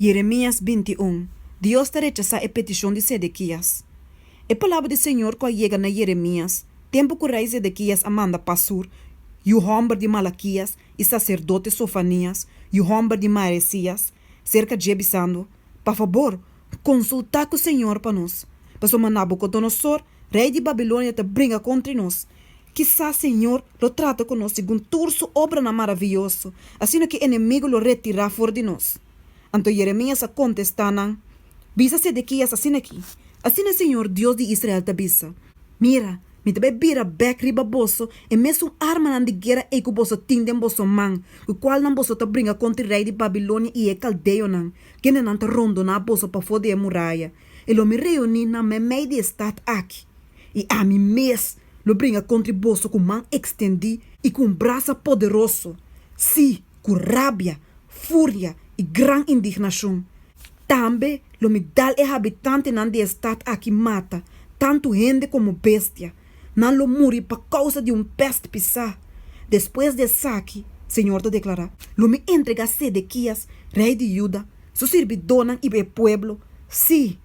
Jeremias binti un, Dios ta rechasá e petishon di Sedekias. E palabra di Señor ku a yega na Jeremias, tempu ku rei Sedekias a manda Pasur, yu hòmber di Malakias, i saserdote Sofanias, yu hòmber di Maasias, serka dje bisando, Pa fabor, konsultá ku Señor pa nos, pasobra Nabukodonosor, rei di Babilonia, ta bringa kontra nos. Kisas Señor lo trata ku nos segun tur su obranan maravioso, asina ku e enemigu lo retirá for di nos. Anto Yeremias a kontestá nan, Bisa Sedekias asin'akí, Asina Señor, Dios di Israel, ta bisa, Mira, mi ta bai bira bèk riba boso e mesun armanan di guera ei ku boso tin den boso man, ku kualnan boso ta bringa kontra e rei di Babilonia i e kaldeonan, kendenan ta rondoná boso pafó di e muraya. E lo mi reuní nan meimei di e stat akí, i ami mes Lo bringa contri boso cu man extendi y cu un brasa poderoso, si, cu rabia, furia y gran indignacion. Tambe lo mi dal e habitantenan di e stad aki mata, tantu hende como bestia. Nan lo muri pa causa di un pest pisá. Despues di esaki, Señor ta declara, lo mi entrega Sedekias, rey di Judá, su sirbidónan y e pueblo, si,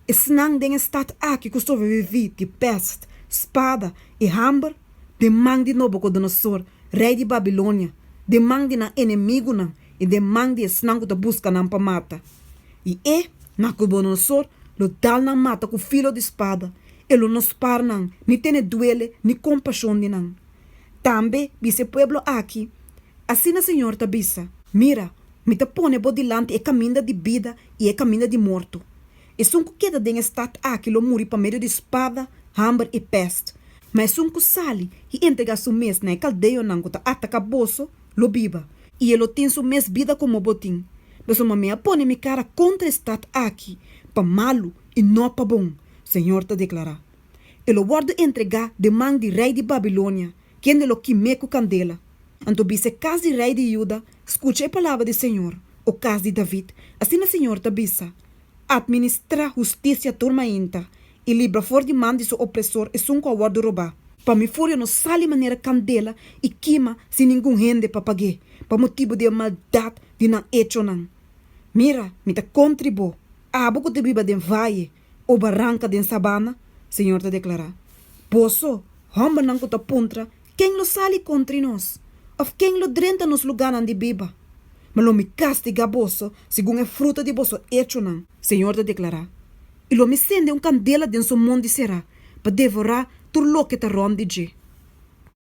Esnan den e stat aki ku sobreviví di pèst, spada i hamber den man di Nobokodonosor, rei di Babilonia, den man di nan enemigunan i den man di esnan ku ta buska nan pa mata. I e, Nakobodonosor, lo dal nan mata ku filo di spada, e lo no spar nan, ni tene duele ni kompashon di nan. Tambe bisa e pueblo aki, Asina señor ta bisa, Mira, Mi ta pone bo dilanti e kaminda di bida i e kaminda di morto. Esun ku keda den e stat aki lo muri pa medio di spada, hamber i pèst, ma esun ku sali i entregá su mes na e kaldeonan ku ta ataká boso, lo biba, i e lo tin su mes bida komo bo tin. Pasobra mi a pone mi kara kontra e stat aki pa malu i no pa bon, señor ta deklará. E lo wòrdu entregá den man di rei di Babilonia, Kende lo kim'é ku kandela? Anto bis e kas di rei di Juda, skucha e palabra di señor, O kas di David, asina señor ta bisa, Atministrá hustisia tur mainta, i libra for di man di su opresor esun ku a wòrdu robá. Pa mi furia no sali manera kandela i kima sin ningun hende pa pag'é, pa motibu di e maldat di nan echonan. Mira, mi ta kontri bo, abo ku ta biba den vaye, o baranka den sabana, Señor ta deklará, Boso, hòmbernan ku ta puntra, Ken lo sali kontra i nos? Òf ken lo drenta nos lugánan di biba? Mi lo mi kastigá boso segun e fruta di boso echonan, Señor ta deklará, i lo mi sende un kandela den su mon di será pa devorá tur loke ta rònt di dje.